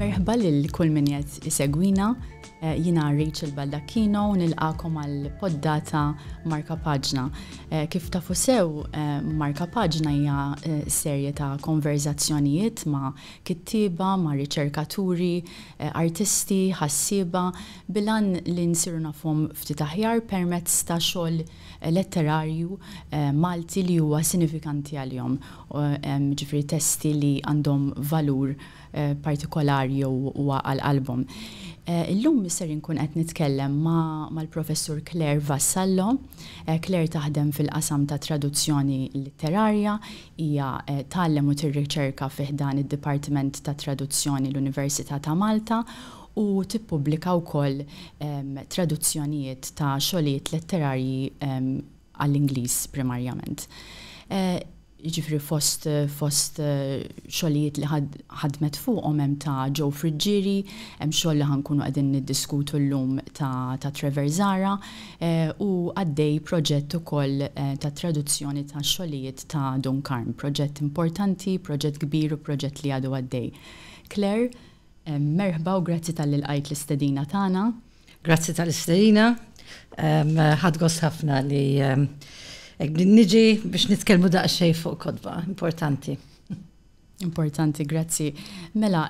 Merħba lil kull min qed isegwina. Eh, jina Rachel Baldacchino u nilqakom għal poddata Marka Paġna. Eh, kif tafu sew, eh, Marka Paġna hija serje ta' konverzazzjonijiet ma' kittiba, ma' riċerkaturi, artisti, ħassiba, bilan li nsiru nafhom ftit aħjar permezz ta' xogħol letterarju Malti li huwa sinifikanti għalihom, jiġifieri testi li għandhom valur partikolari jew huwa għal qalbhom. Illum ser inkun qed nitkellem mal-Professur Claire Vassallo. Claire taħdem fil-qasam tat-traduzzjoni litterarja. Hija tgħallem u tirriċerka fi ħdan id-Dipartiment tat-Traduzzjoni l-Università ta' Malta u tippubblika wkoll traduzzjonijiet ta' xogħlijiet letterarji għall-Ingliż primarjament. Jiġifieri fost fost xogħlijiet li ħadmet fuqhom hemm ta' Joe Friggieri, hemm xogħol li ħa nkunu qegħdin niddiskutu llum ta' ta' Trevor Zahra, u għaddej proġett ukoll ta' traduzzjoni ta' xogħlijiet ta' Dun Karm. Proġett importanti, proġett kbir u proġett li għadu għaddej. Claire, Merħba u grazzi talli lqajt l-istedina tagħna. Grazzi tal-istedina. Ħadt gost ħafna li niġi biex nitkellmu daqsxejn fuq kotba importanti. Importanti, grazzi. Mela,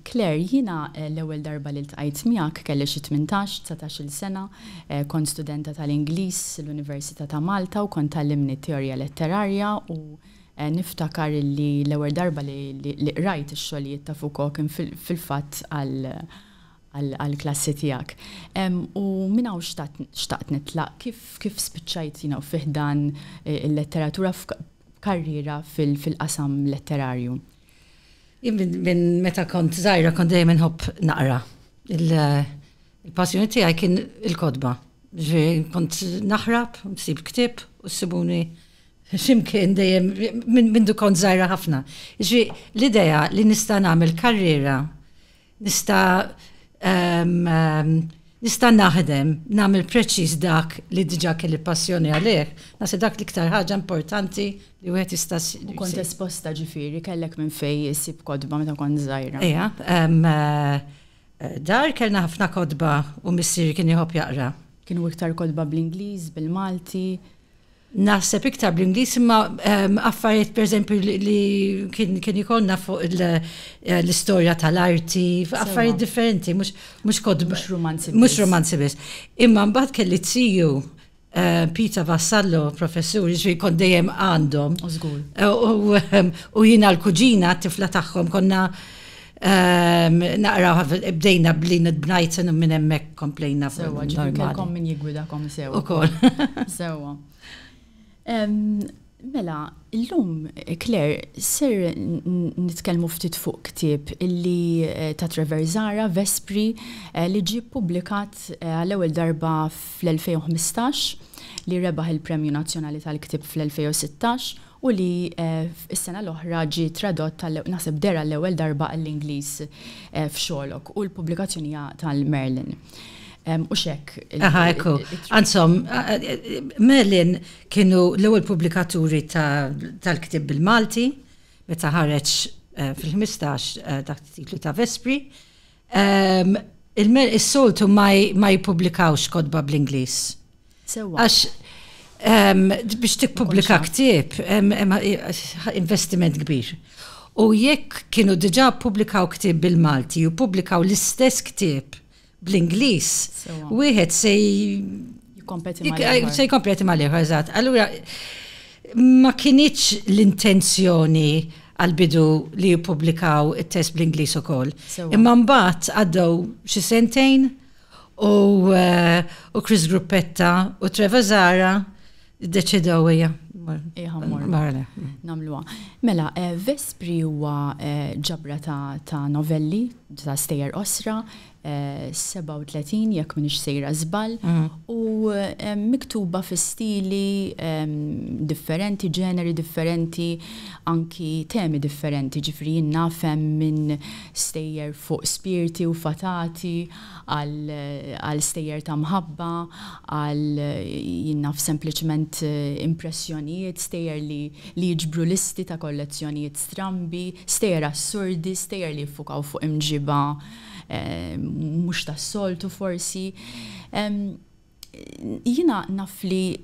Claire, jiena eh, l-ewwel darba li ltqajt miegħek kelli xi 18, 19-il sena, eh, kont studenta tal-Ingliż l-Università ta' Malta u kont tallimni teorija letterarja u Niftakar illi l-ewwel darba li qrajt ix-xogħlijiet ta' Foucault kien fil-fatt għall-klassi tiegħek. U minn hawn xtaqt nitlaq kif spiċċajt fi ħdan il-letteratura f'karriera fil-qasam letterarju? Jien minn meta kont żgħira kont dejjem inħobb naqra. Il-passjoni tiegħi kien il-kotba. Kont naħrab, nsib ktieb u ssibuni X'imkien dejjem minn mindu kont żgħira ħafna. Ġi l-idea li nista' nagħmel karriera, nista' nista' naħdem, nagħmel preċiż dak li diġà kelli passjoni għalih, naħseb dak l-iktar ħaġa importanti li wieħed jista' jsib. Kont esposta ġifieri, kellek minn fejn issib kotba meta kont żgħira? Ejja. Dar kellna ħafna kotba u missieri kien iħobb jaqra. Kienu iktar kotba bl-Ingliż, bil-Malti? Naħseb iktar bl-Ingliż imma affarijiet pereżempju li kien ikollna fuq l-istorja tal-arti, affarijiet differenti, mhux kotba. Mhux romanzi biss. Mhux romanzi biss. Imma mbagħad kelli t-tiju Peter Vassallo, professur, jiġri kont dejjem għandhom. U żgur. U jiena l-kuġina, t-tifla tagħhom, konna Naqra bdejna bli nidbnajt sinu minn hemmhekk komplejna fuq. Sewa, ġifieri kellkom min jigwidakom sewa. Ukoll. Sewa. Mela, illum Claire ser nitkellmu ftit fuq ktieb illi ta' Trevor Zahra, Vespri, li ġie ppubblikat għall-ewwel darba fl-2015, li rebaħ il-Premju Nazzjonali tal-Ktieb fl-2016 u li s-sena l-oħra ġie tradott għal, naħseb, deher għall-ewwel darba għall-Ingliż f'Sherlock u l-pubblikazzjoni hija tal-Merlin. U x'hekk. Aha, ekku. Anzom, Merlin kienu l-ewwel pubblikaturi tal-ktieb bil-Malti meta ħareġ fil-15 taħt it-titlu ta' Vespri. Is-soltu ma jippubblikawx kodba bl-Ingliż. Għax biex tippubblika ktieb, investiment kbir. U jekk kienu diġà ppubblikaw ktieb bil-Malti u ppubblikaw l-istess ktieb bl-Ingliż, wieħed se jkompeti mal-ieħor, eżatt. Allura ma kinitx l-intenzjoni għall-bidu li jippubblikaw it-test bl-Ingliż ukoll. Imma mbagħad għaddew xi sentejn u eh, Chris Gruppetta u Trevor Zara deċidew hija Marla. Namluwa. Mela, eh, Vespri huwa eh, ġabra ta' novelli, ta' stejer osra, 37 jekk minix sejra żball u miktuba fi stili differenti, ġeneri differenti, anki temi differenti, ġifieri jien naf hemm minn stejjer fuq spirti u fatati għal stejjer ta' mħabba għal jien naf sempliċement impressjonijiet, stejjer li jiġbru listi ta' kollezzjonijiet strambi, stejjer assurdi, stejjer li jiffukaw fuq imġiba mhux tas-soltu forsi. Jiena naf li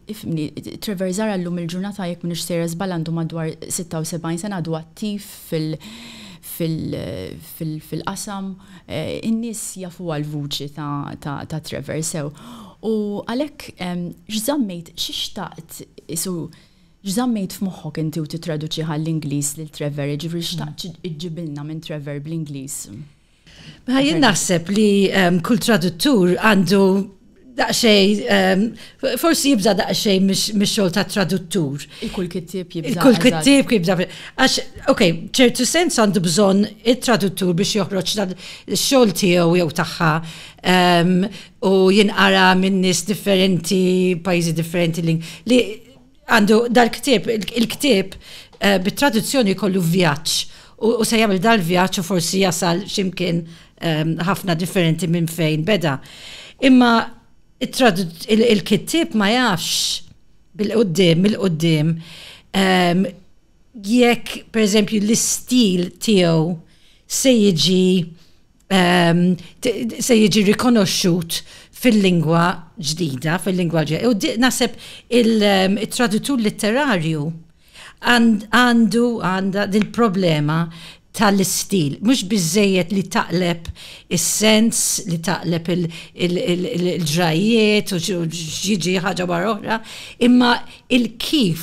Trevor Zara llum il-ġurnata jekk m'iniex sejra żball għandu madwar 76 sena għadu attiv fil-qasam, in-nies jafuha l-vuċi ta' Trevor sew. U għalhekk x'żammejt, xi xtaqt isu X'żammejt f'moħħok inti u tittraduċih għall-Ingliż lil Trevor, jiġifieri x'xtaqt iġġibilna minn Trevor bl-Ingliż? Mela jien naħseb li kull traduttur għandu daqxej, ehm, forsi jibza daqxej mix-xogħol ta' traduttur. Il-kull kittib jibza. Il-kull kittib jibza. Għax, ok, ċertu sens għandu bżonn it-traduttur biex joħroġ dan xogħol tiegħu jew tagħha ehm, u jinqara minn nies differenti, pajjiżi differenti li għandu dal-ktib, il-ktib eh, bit-traduzzjoni kollu vjaġġ u se jagħmel dal-vjaġġ u forsi jasal ximkien ehm, ħafna differenti minn fejn beda. Imma il-kittib ma jafx bil-qoddim, mill-qoddim, ehm, jekk per eżempju l-istil tiegħu se jiġi ehm, se jiġi rikonoxxut fil-lingwa ġdida, fil-lingwa ġdida. U naseb ehm, il-tradutur litterarju għandu għanda dil-problema tal-istil, mux bizzejiet li taqleb il-sens, li taqleb il-ġrajiet, u ġiġi ħagġa barra oħra, imma il-kif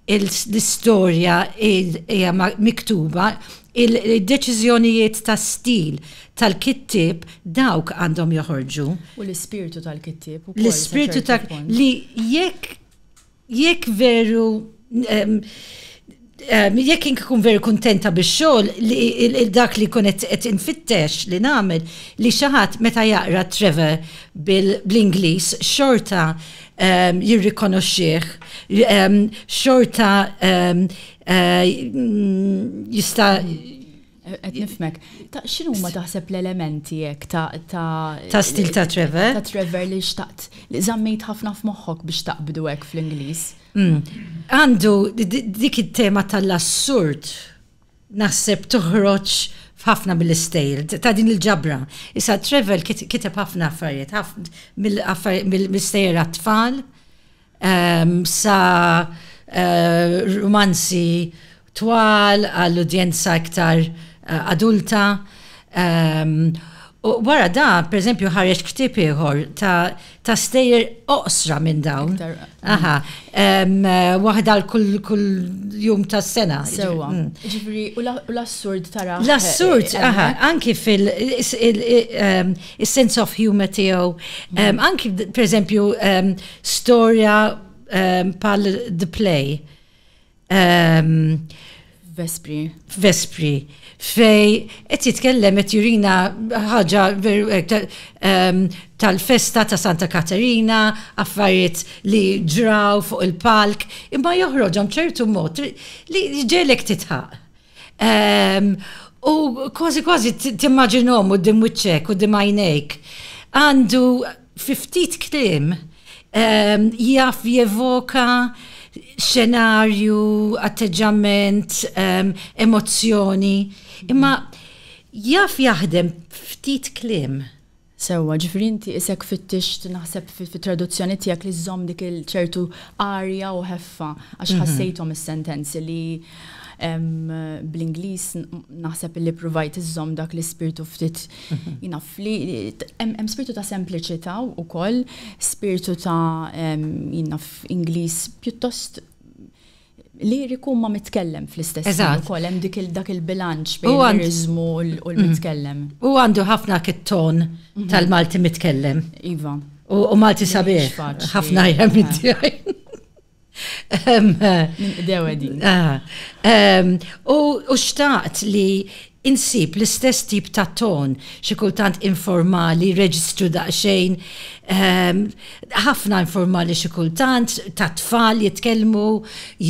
l-istorja hija miktuba, id-deċiżjonijiet ta' stil tal-kittieb dawk għandhom joħorġu. U l-ispirtu tal-kittieb ukoll. L-ispirtu ta' li jekk jekk veru jekk inkun veru kuntenta bix-xogħol li dak li jkun qed infittex li nagħmel li xi ħadd meta jaqra Trevor bl-Ingliż xorta ehm, jirrikonoxxih, ehm, xorta ehm, eh, jista' Qed nifmek. Ta' xinu ma taħseb l-elementi jek ta' ta' ta' stil ta' Trevor? Ta' Trevor li xtaqt li zammejt ħafna f'moħħok biex taqbdu hekk fl-Ingliż. Hmm. Għandu dik it-tema tal-assurd naħseb toħroġ f'ħafna mill-istejl ta' din il-ġabra. Issa Trevor kiteb ħafna affarijiet, mill-istejjer għat-tfal, ehm, sa eh, romanzi twal għall-udjenza iktar eh, adulta. Ehm, U wara dan, pereżempju, ħareġ ktieb ieħor ta' stejjer oqsra minn dawn. Aha, waħda l-kull jum tas-sena. Sewwa. Mm. Ġifri, u l-assurd tara. L-assurd, eh, aha, anki fil- sense of humor tiegħu, mm. anki pereżempju storja pal the play Vespri. Vespri. Fej, qed jitkellem qed jurina ħaġa tal-festa ta' Santa Katerina, affarijiet li ġraw fuq il-palk, imma joħroġhom ċertu mod li ġelek titħaq. Ehm, u kważi kważi timmaġinhom u dim wiċċek u dim għajnejk. Għandu Fi ftit kliem, ehm, jaf jevoka xenarju, atteġġament, ehm, emozzjoni, imma jaf jaħdem ftit kliem. Sewwa, ġifieri inti isek fittix naħseb fit-traduzzjoni tiegħek li żżomm dik il-ċertu arja u ħeffa għax mhm. ħassejthom is-sentenzi li bl-Ingliż naħseb li provajt iżżomm dak l-ispirtu ftit jinaf li hemm spirtu ta' sempliċità wkoll, spirtu ta' jinaf Ingliż pjuttost liriku ma mitkellem fl-istess ħin ukoll hemm dik dak il-bilanċ bejn l-liriżmu u l-mitkellem. U għandu ħafna kit-ton tal-Malti mitkellem. Iva. U Malti sabiħ. Ħafna jgħem Dewe din. Ah, ehm, u xtaqt li insib l-istess tip ta' ton, xi kultant informali, reġistru daqsxejn, ehm, ħafna informali xi kultant, ta' tfal jitkellmu,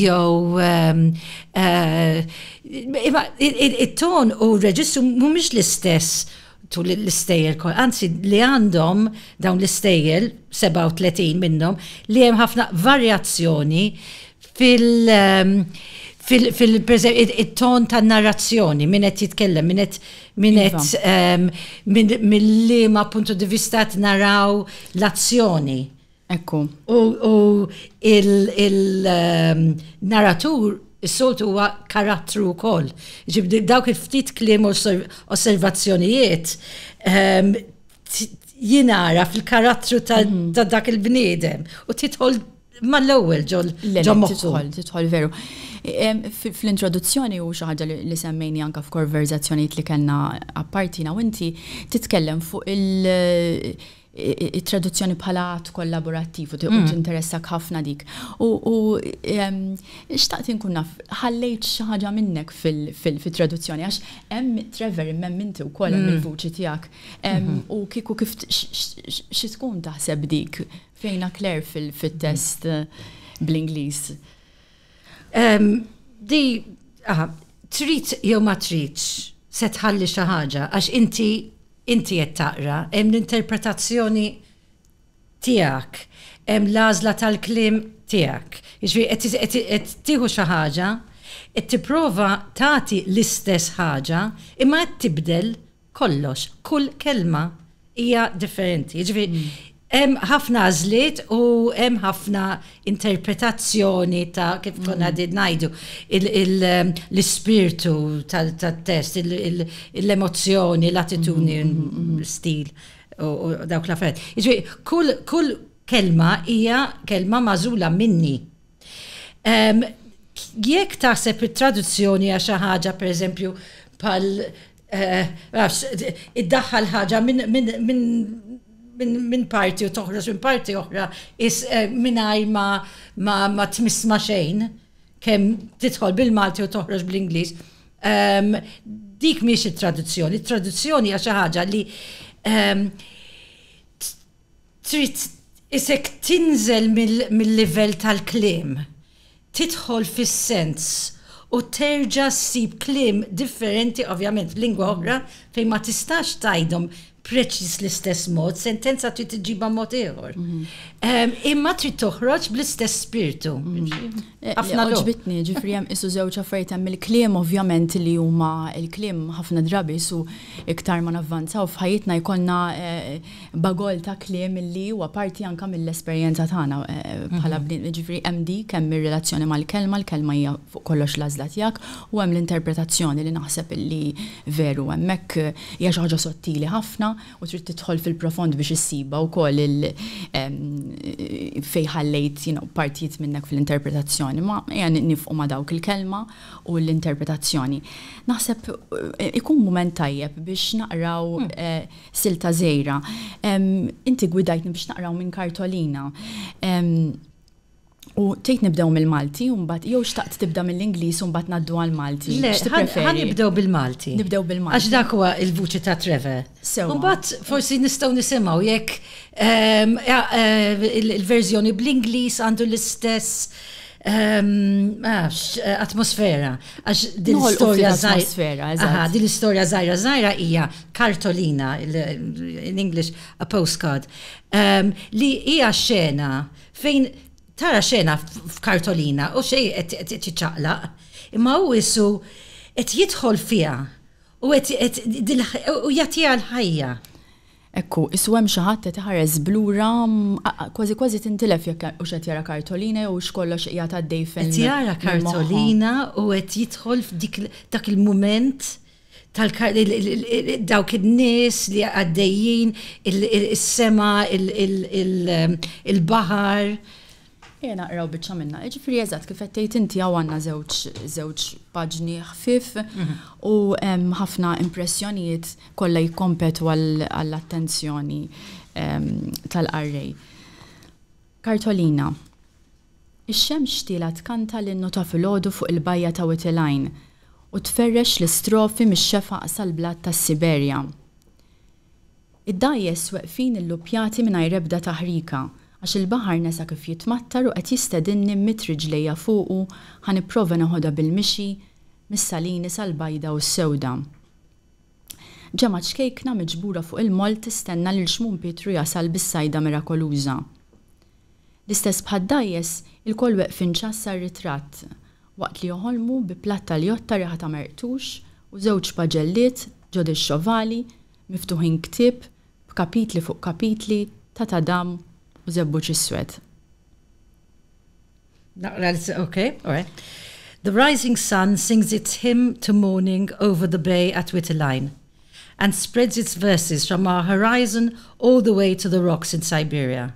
jew ehm, eh, it-ton u reġistru mhumiex l-istess tul l-istejjel kol, anzi li għandhom dawn l-istejjel, 37 minnhom, li hemm ħafna varjazzjoni fil- ehm, fil-ton tan narrazzjoni minn qed jitkellem, minn qed minn qed iva. ehm, mill-liema puntu di vista naraw l-azzjoni. Ekku. U il-narratur is-soltu huwa karattru wkoll. Ġibdi dawk il-ftit kliem osservazzjonijiet ehm, jinara fil-karattru ta' mhm. dak il-bniedem u titħol mal-ewwel ġol Titħol, titħol veru. Ehm, fl-introduzzjoni u xi ħaġa li semmejni anke f'konverzazzjonijiet li kellna appartina u inti titkellem fuq il- it-traduzzjoni bħala att kollaborattiv u mm. tinteressak ħafna dik. U xtaqt inkun naf, ħallejt xi ħaġa minnek fil-traduzzjoni, għax hemm Trevor imem inti wkoll hemm mm. il-vuċi tiegħek. Mhm. U kieku kif xi tkun taħseb dik fejna Claire fil-test bl-Ingliż? Di, trid jew ma tridx se tħalli xi ħaġa għax inti Inti qed taqra, hemm l-interpretazzjoni tiegħek, hemm l-għażla tal-kliem tiegħek. Jiġifieri qed tieħu xi ħaġa, qed tipprova tagħti l-istess ħaġa, imma qed tibdel kollox. Kull kelma hija differenti. Jiġifieri Hemm ħafna għażliet u hemm ħafna interpretazzjoni ta' kif konna qegħdin ngħidu l-ispirtu tat-test, l-emozzjoni, l-attitudni, l-istil u dawk l-affarijiet. Jiġifieri kull kelma hija kelma magħżula minni. Jekk taħseb it-traduzzjoni għax xi ħaġa pereżempju bħal eh, iddaħħal ħaġa minn parti u toħroġ minn parti oħra is eh, mingħajr ma tmiss ma xejn kemm tidħol bil-Malti u toħroġ bl-Ingliż. Dik miex it-traduzzjoni, it-traduzzjoni għax xi ħaġa li trid isek tinżel mil-livell tal-kliem, tidħol fis-sens u terġa' ssib kliem differenti ovvjament f'lingwa oħra fejn ma tistax tgħidhom preċiż l-istess mod, sentenza trid iġġibha b'mod ieħor. Imma trid toħroġ bl-istess spirtu. Ħafna ġbitni, ġifri hemm isu żewġ affarijiet hemm il-kliem ovvjament li huma il-kliem ħafna drabi su iktar ma navvanzaw f'ħajjitna jkollna eh, Bagol ta' kliem li huwa parti anke mill-esperjenza tagħna bħala bniedem. Jiġifieri hemm dik, hemm ir-relazzjoni mal-kelma, l-kelma hija fuq kollox l-għażla tiegħek, u hemm l-interpretazzjoni li naħseb li veru hemmhekk hija xi ħaġa sottili ħafna u trid tidħol fil-profond biex issibha wkoll il fejn ħallejt you know partijiet minnek fl-interpretazzjoni. Ma ejja nifqu ma' dawk il-kelma u l-interpretazzjoni. Naħseb ikun mument tajjeb biex naqraw Sil ta' Żejra. Inti gwidajtni biex naqraw minn kartolina. U tgħid nibdew mill-Malti u mbagħad jew xtaqt tibda mill-Ingliż u mbagħad ngħaddu għall-Malti. Le, ħa nibdew bil-Malti. Nibdew bil-Malti. Għax dak huwa l-vuċi ta' Trevor. Sew. U mbagħad forsi nistgħu nisimgħu jekk ehm, eh, il-verżjoni bl-Ingliż għandu l-istess Għax, atmosfera. Għax din l-istorja zaħira. Għax din l-istorja zaħira zaħira hija kartolina, in English, a postcard, li hija xena fejn tara xena f'kartolina u xej qed tiċċaqlaq, imma hu isu qed jidħol fiha u jagħtiha l-ħajja. Hekk hu, issu hemm xi ħadd qed iħares b'lura, kważi kważi tintilef jekk hux qed jara kartolina jew hux kollox qiegħed għaddej fil-, Qed jara kartolina u qed jidħol f'dik dak il-mument tal-, dawk in-nies li għaddejjin, is-sema, il-baħar. Ejja naqraw biċċa minnha. Jiġifieri eżatt kif qed tgħid inti hawn għandna żewġ żewġ paġni ħfief u hemm ħafna impressjonijiet kollha jikkompetu għall-attenzjoni tal-qarrej. Kartolina, Ix-xemx xtielha tkanta l-innu ta' filgħodu fuq il-bajja ta' Witiline u tferrex l-istrofi mix-xefaq sal-blat tas-Siberja. Id-dgħajjes weqfin illuppjati mingħajr ebda taħrika, għax il-baħar nesa kif jitmattar u qed jistedinni mmidd riġlejja fuqu ħa nipprova neħodha bil-mixi mis-Salini sal-Bajda u s-Sewda. Ġemgħat xkejkna miġbura fuq il-moll tistenna lil Xmun Pietru jasal bis-sajda mirakoluża. L-istess bħad-dgħajjes, ilkoll weqfin ċass għar-ritratt, waqt li joħolmu bi platt tal-jotta riħa ta' merqtux u żewġ paġelliet ġod ix-xovali, miftuħin ktieb b'kapitli fuq kapitli ta' tadam u żebbuġ iswed. Naqra l ok, alright. The rising sun sings its hymn to morning over the bay at Wittelein and spreads its verses from our horizon all the way to the rocks in Siberia.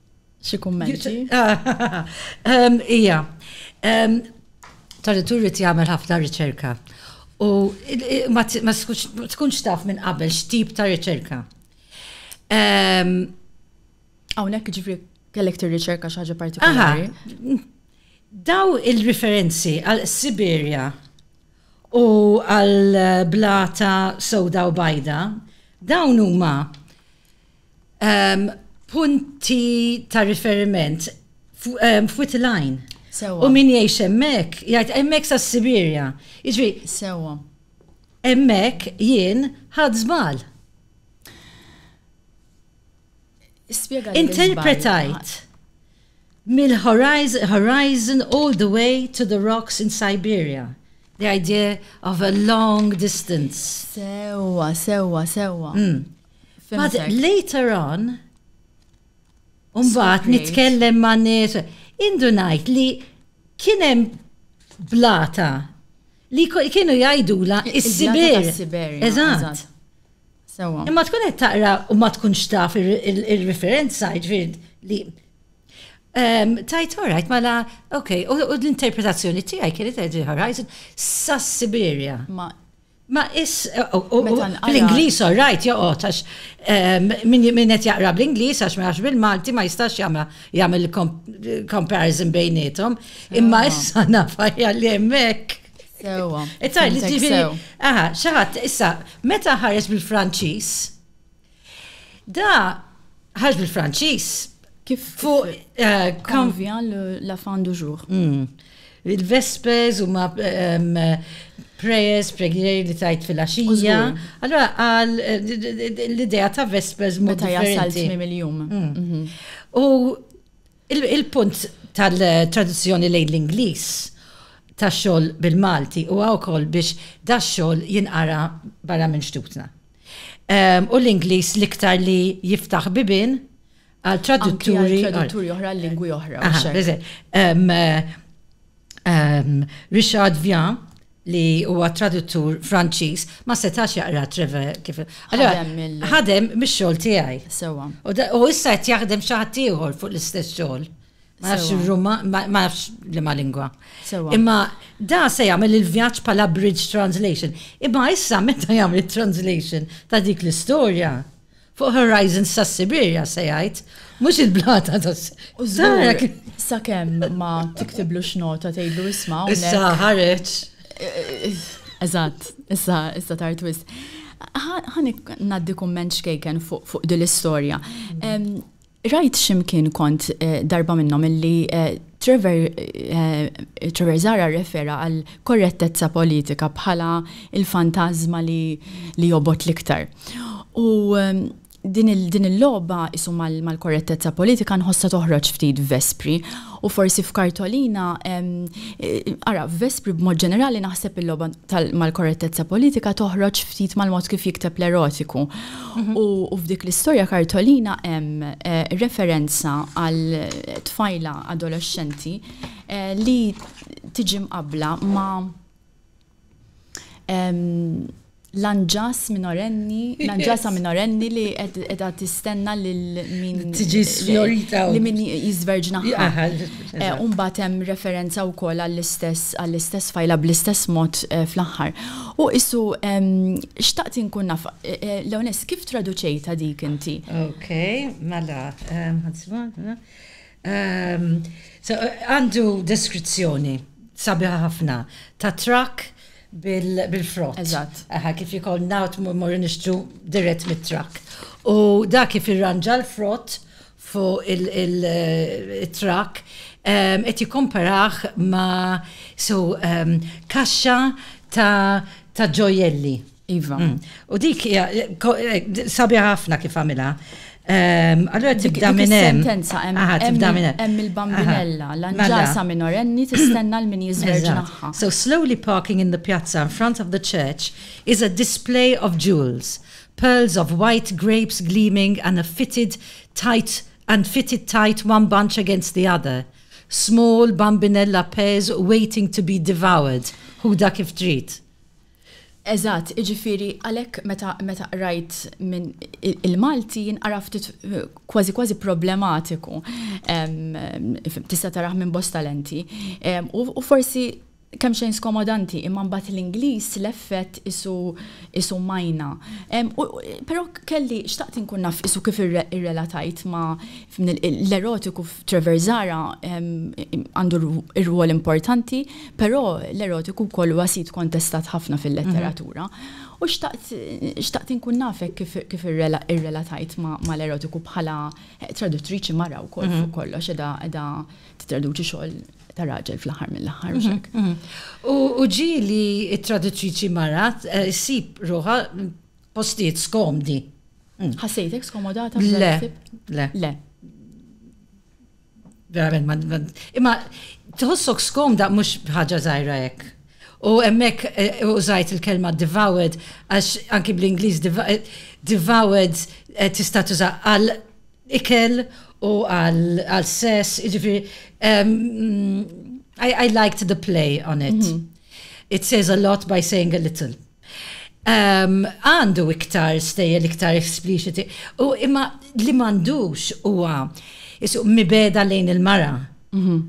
Xi kummenti? Ehm, ija, ehm, tal-itur rrit jagħmel ħafna riċerka. U ma tkunx taf minn qabel x'tip ta' riċerka. Ehm, Hawnhekk ġifri kellek tir-riċerka xi ħaġa partikolari. Daw il-referenzi għal Siberja u għal blata soda u bajda, dawn huma Punti ta' riferiment f'wit il-għajn. Sewa. U min jgħix hemmhekk, jgħid hemmhekk sa' Sibirja. Jiġri. Sewa. Hemmhekk jien ħadd żbal. Spjega Interpretajt mill-horizon horizon all the way to the rocks in Siberia. The idea of a long distance. Sewa, sewa, sewa. Mm. But later on, Umbat nitkellem ma' nies, indu ngħid li kien hemm blata li kienu jgħidula is-sibir. Eżatt. Imma tkun qed taqra u ma tkunx taf ir-referenza ġifier li ehm, tajt orajt mela, ok, u l-interpretazzjoni tiegħi kienet qed Horizon sas-Sibirja. Ma Ma is, fl-Ingliż all right joqgħod għax min qed jaqra bl-Ingliż għax ma jafx bil-Malti ma jistax jagħmilha jagħmel comparison bejniethom. Imma issa naf aħjar li hemm hekk. Sewwa. Aha, xi ħadd issa meta ħares bil-Franċiż Da ħarġ bil-Franċiż. Kif fuq eh, Convient la fin du jour. Mm. Il-Vespers u ma ehm, prayers, preghieri li tajt fil-axija. Allora, għal eh, l-idea ta' Vespers mod Meta jasal differenti. tmim il-jum. Mm. Mhm. U il- il-punt tal-traduzzjoni lejn l-Ingliż ta' xogħol bil-Malti u wkoll biex da xogħol jinqara barra minn xtutna. U l-Ingliż l-iktar li jiftaħ bibin għal tradutturi. Tradutturi oħra l-lingwi oħra. Richard Vian li huwa traduttur Franċiż ma setax jaqra treve kif. Ħadem mix-xogħol tiegħi. Sewa. U issa qed jaħdem xi ħadd ieħor fuq l-istess xogħol. Ma nafx il-Ruma, ma nafx li ma lingwa. Imma da se jagħmel il-vjaġġ bħala bridge translation. Imma issa meta jagħmel translation ta' dik l-istorja fuq Horizons ta' Sibirja se jgħid, mhux il-blata ta' Sara. Sa kemm ma tiktiblu x'nota tgħidlu isma' Issa ħareġ. Eżatt, issa issa tar twist. Ħanik ngħaddi kumment xkejken fuq din l-istorja. Rajt x'imkien kont darba minnhom illi Trevor, Trevor Zara rrefera għal korrettezza politika bħala il-fantażma li li jobgħod l-iktar. U din il din il-logħba isu mal-korrettezza politika nħossha toħroġ ftit f'Vespri u forsi f'Kartolina ara f'Vespri b'mod ġenerali naħseb il-logħba mal-korrettezza politika toħroġ ftit mal-mod kif jikteb l-erotiku U f'dik l-istorja kartolina hemm eh, referenza għal tfajla adolescenti eh, li tiġi mqabla ma' l-anġas minorenni, l-anġasa minorenni li edha tistenna lil min. Tiġi sfjorita. Li min jizverġna. U mbagħad hemm referenza wkoll għall-istess għall-istess fajla bl-istess mod eh, fl-aħħar. U isu xtaqt inkun naf eh, eh, l-onest kif traduċejta dik inti? Ok, mela, għandu deskrizzjoni sabiħa ħafna ta' trak bil-frott. Eżatt. Kif jikol nawt morri nixtru dirett mit-trak. U da kif irranġa l-frott fuq il-truck qed jikkomparaħ ma' so kaxxa ta' ġojelli. Iva. Mm. U dik hija sabiħa ħafna kif għamilha. Allora tibda minn hemm. Sentenza hemm il-bambinella, l-anġasa minorenni tistenna l-min jiżverġnaħħa. So slowly parking in the piazza in front of the church is a display of jewels. Pearls of white grapes gleaming and a fitted tight and fitted tight one bunch against the other small bambinella pears waiting to be devoured ħudha kif trid. Eżatt, jiġifieri għalhekk meta meta qrajt minn il-Malti jien ara ftit kważi kważi problematiku tista' tarah minn bosta lenti u forsi Kemxejn skomodanti, imma mbagħad l-Ingliż leffet qisu qisu majna. U però kelli xtaqt inkun naf qisu kif irrelatajt ma' l-erotiku f'Trevor Zahra għandu r-rwol importanti, però l-erotiku wkoll huwa sit kontestat ħafna fil-letteratura. U xtaqt xtaqt inkun naf hekk kif irrelatajt ma' l-erotiku bħala traduttriċi mara wkoll fuq kollox qiegħda qiegħda tittraduċi xogħol. ta' raġel fl-aħħar mill-aħħar mhux hekk. Mhm, mhm. U ġi li t-traduttriċi marat eh, ssib ruħa postijiet skomdi. Mm. Ħassejtek skomodata? Le, le. Le. Verament, imma tħossok skomda mhux ħaġa żgħira hekk. U hemmhekk eh, użajt il-kelma devoured għax anki bl-Ingliż eh, devoured tista' tuża għal ikel u għal sess, ġifiri, um, I, I liked the play on it. Mm -hmm. It says a lot by saying a little. Um, għandu um, iktar stejjel iktar explicit. U imma li mandux huwa jisu mibeda lejn il-mara. Mm -hmm.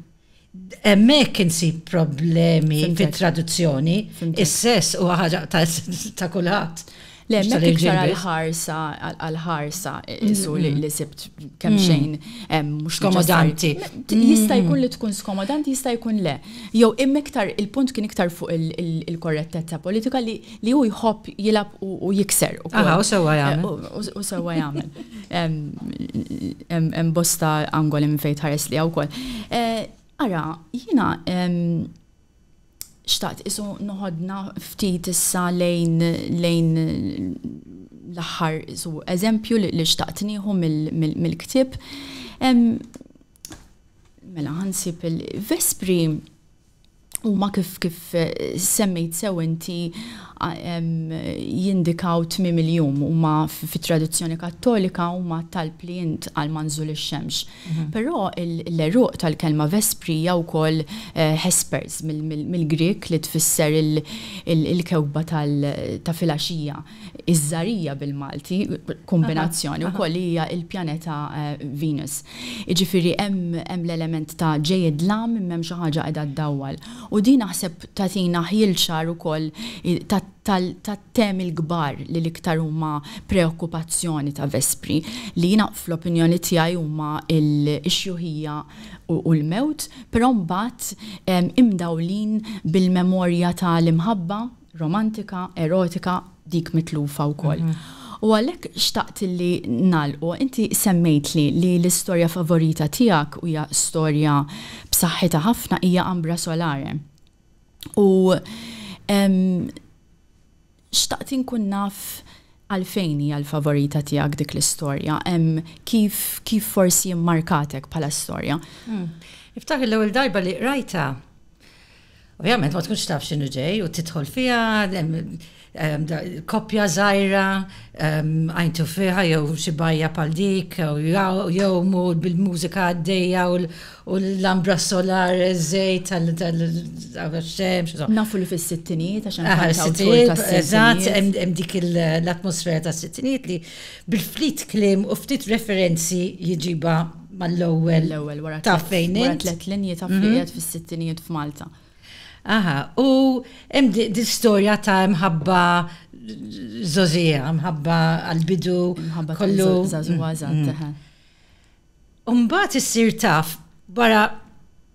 Hemmhekk insib problemi fit-traduzzjoni, is-sess huwa ħaġa ta' kulħadd. Le, hemmhekk iktar għall-ħarsa, għall-ħarsa isu li sibt kemm xejn mhux skomodanti. Jista' jkun li tkun skomodanti, jista' jkun le. Jew imma iktar il-punt kien iktar fuq il-korrettezza politika li li hu jħobb jilab u jikser. Aha, u sewa jagħmel. U sewa jagħmel. Hemm bosta angoli minn fejn tħares li wkoll. Eh, ara, jiena xtaqt isu noħodna ftit issa lejn lejn l-aħħar isu eżempju li xtaqt nieħu mill-ktieb. Mela ħansib il-Vespri huma kif kif semmejt sew inti jindikaw tmiem il-jum huma fit-tradizzjoni Kattolika huma talb li int għal ma nżul ix-xemx. Però l-għeruq tal-kelma vespri hija wkoll hespers mill-Grieg li tfisser il-kewkba ta' filgħaxija. Iż-żgħarija bil-Malti, kombinazzjoni wkoll, hija l-pjaneta Venus. Jiġifieri hemm l-element ta' ġej id-dlam imma hemm xi ħaġa qiegħda ddawwal. U din naħseb tagħtina ħjiel ċar ukoll tat-temi l-kbar li l-iktar huma preokkupazzjoni ta' Vespri, li jiena fl-opinjoni tiegħi huma x-xjuħija u l-mewt, però mbagħad imdawlin bil-memorja tal-imħabba, romantika, erotika, dik mitlufa wkoll. U għalhekk xtaqt li nagħlqu, inti semmejtli li l-istorja favorita tiegħek u hija storja b'saħħitha ħafna hija Ambra Solare. U xtaqt inkun naf għalfejn hija l-favorita tiegħek dik l-istorja, kif kif forsi mmarkatek bħala storja. Niftakar l-ewwel darba li qrajtha, Ovvjament ma tkunx taf x'inhu ġej u tidħol fiha koppja żgħira għajntu fiha jew xi bajja bħal dik jew bil-mużika għaddejja u l-ambra solar żejt tal-xemx. Nafu li fis-sittinijiet għax hemm Eżatt, hemm dik l-atmosfera tas-sittinijiet li bil-ftit kliem u ftit referenzi jġibha Mal-ewwel. L-ewwel wara tliet. Taf fejn int? Wara tliet linji taf li qiegħed fis-sittinijiet f'Malta. Aha, u hemm din storja ta' imħabba żogħżiegħa, imħabba għall-bidu. Imħabba kollu. Żagħżugħa żgħat, eħe. Imbagħad issir taf wara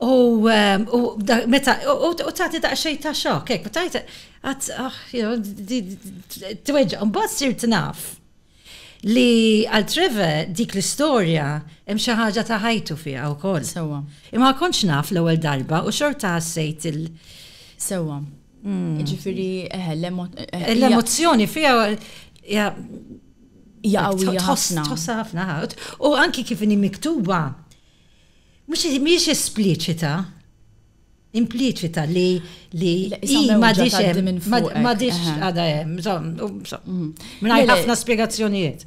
U tagħti daqsxejn ta' xokk, hekk, u tajt għad ah, tweġġa' mbagħad sirt naf li għal Treve dik l-istorja hemm xi ħaġa ta' ħajtu fiha wkoll. Sewwa. Imma kontx naf l-ewwel darba u xorta ħassejt il- Sewwa. Hmm. Ġifieri eħe eh, l-emozzjoni fiha ja qawwija ħafna. Tħossha ħafna. U anki kif inhi miktuba Mhijiex espliċita, impliċita li li ma dix għada hemm, mingħajr ħafna spjegazzjonijiet.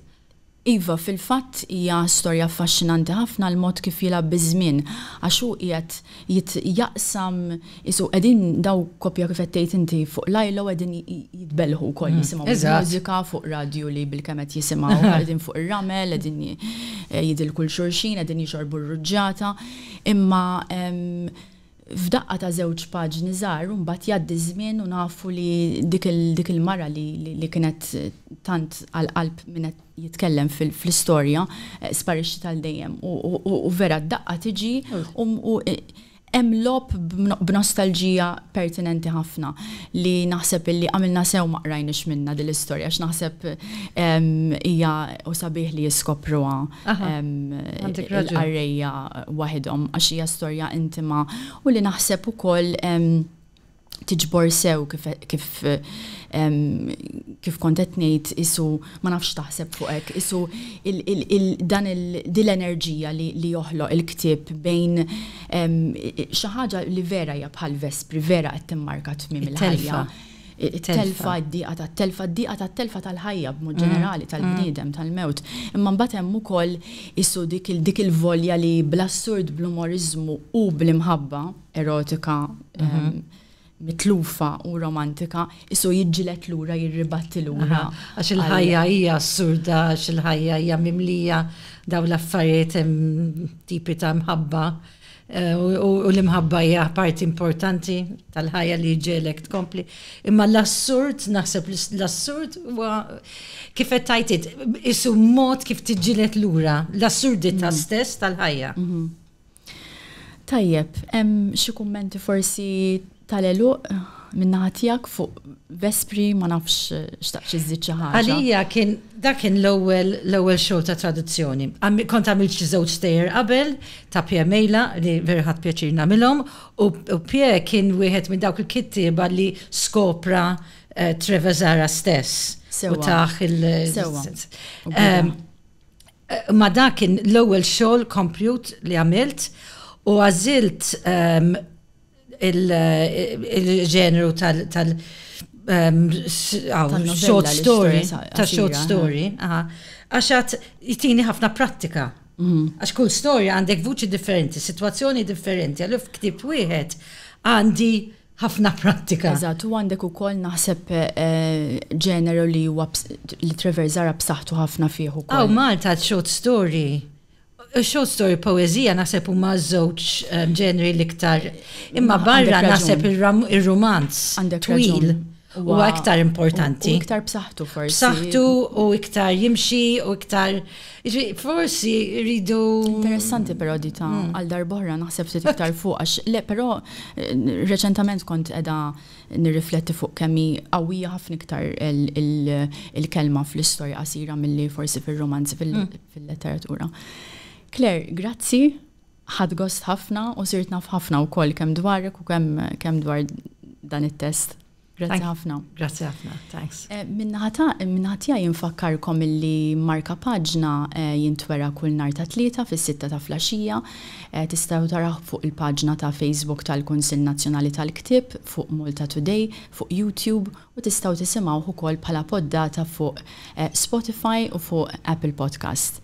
Iva, fil-fatt hija storja affaxxinanti ħafna l-mod kif jilgħab biż-żmien għax hu qiegħed jaqsam Qisu qegħdin daw koppja kif qed tgħid inti fuq l-ajla u qegħdin jitbellħu wkoll jisimgħu l-mużika fuq radju li bilkemm qed jisimgħu qegħdin fuq ir-ramel qegħdin jidilku 'l xulxin qegħdin jixorbu r-ruġġata. Imma f'daqqa ta' żewġ paġni żgħar u mbagħad jgħaddi ż-żmien u nafu li dik il-mara li kienet tant għal qalb min qed jitkellem fl-istorja sparixxiet għal dejjem u vera d-daqqa tiġi u Hemm logħob b'nostalġija pertinenti ħafna li naħseb illi għamilna sew ma qrajniex minnha din l-istorja għax naħseb hija u sabiħ li jiskopruha l-qarrejja waħidhom għax hija storja intima u li naħseb ukoll tiġbor sew kif kif kif kont qed ngħid isu ma nafx taħseb fuq hekk, isu dan din l-enerġija li joħloq il-ktieb bejn xi ħaġa li vera hija bħal vespri, vera qed timmarka tmiem il-ħajja. Telfa d-diqa tat-telfa, d-diqa tat-telfa tal-ħajja b'mod ġenerali tal-bniedem tal-mewt. Imma mbagħad hemm ukoll isu dik il-volja li bl-assurd, bl-umoriżmu u bl-imħabba, erotika, mitlufa u romantika, isu jidġilet lura, jirribatti lura. Għax il-ħajja hija assurda, għax il-ħajja hija mimlija daw l-affarijiet tipi ta' mħabba. Eh, u l-imħabba hija parti importanti tal-ħajja li ġelek tkompli. Imma l-assurd, naħseb l-assurd huwa kif qed tajtit, isu mod kif tiġġilet lura l-assurdità mm. stess tal-ħajja. Mm-hmm. Tajjeb, hemm xi kummenti forsi tal-għeluq minn naħa tiegħek fuq Vespri ma nafx xtaqx iżżid xi ħaġa. Għalija kien dak kien l-ewwel l-ewwel xogħol ta' traduzzjoni. Kont għamilt xi żewġ stejjer qabel ta' Pje Mejla li vera ħadt pjaċir nagħmilhom u Pje kien wieħed minn dawk il-kittieba li skopra Treveżara stess u tah il-. Sewwa. Ma' dak kien l-ewwel xogħol kompjut li għamilt u għażilt il-ġeneru tal- short story. Tal-short story. Għax għad jtini ħafna prattika. Għax kull storja għandek vuċi differenti, sitwazzjoni differenti, allura f'ktieb wieħed għandi ħafna prattika. Eżatt, u għandek ukoll naħseb ġeneru li huwa li Trevor Zara b'saħħtu ħafna fih ukoll. Aw Malta short story. Short story poeżija naħseb huma żewġ ġenri l-iktar. Imma barra naħseb ir-romanz twil. u iktar importanti. U iktar b'saħħtu forsi. B'saħħtu u iktar jimxi u iktar forsi rridu. Interessanti però di ta' mm. għal darbohra naħseb ftit iktar fuq għax le però eh, reċentament kont edha nirrifletti fuq kemmi qawwija ħafna iktar il-kelma fl-istorja qasira milli forsi fil-romanzi mm. fil-letteratura. Claire, grazzi Ħadt gost ħafna u sirt naf ħafna wkoll kemm dwarek u kemm kemm dwar dan it-test. Grazzi ħafna. Grazzi ħafna, thanks. Eh, Minnaħatija jinfakkarkom illi marka paġna eh, jintwera kull nar ta' tlieta fis-sitta ta' flaxija. Eh, tistgħu taraħ fuq il-paġna ta' Facebook tal-Kunsill Nazzjonali tal-Ktib, fuq Malta Today, fuq YouTube u tistgħu tisimgħu ukoll bħala poddata fuq Spotify u fuq Apple Podcast.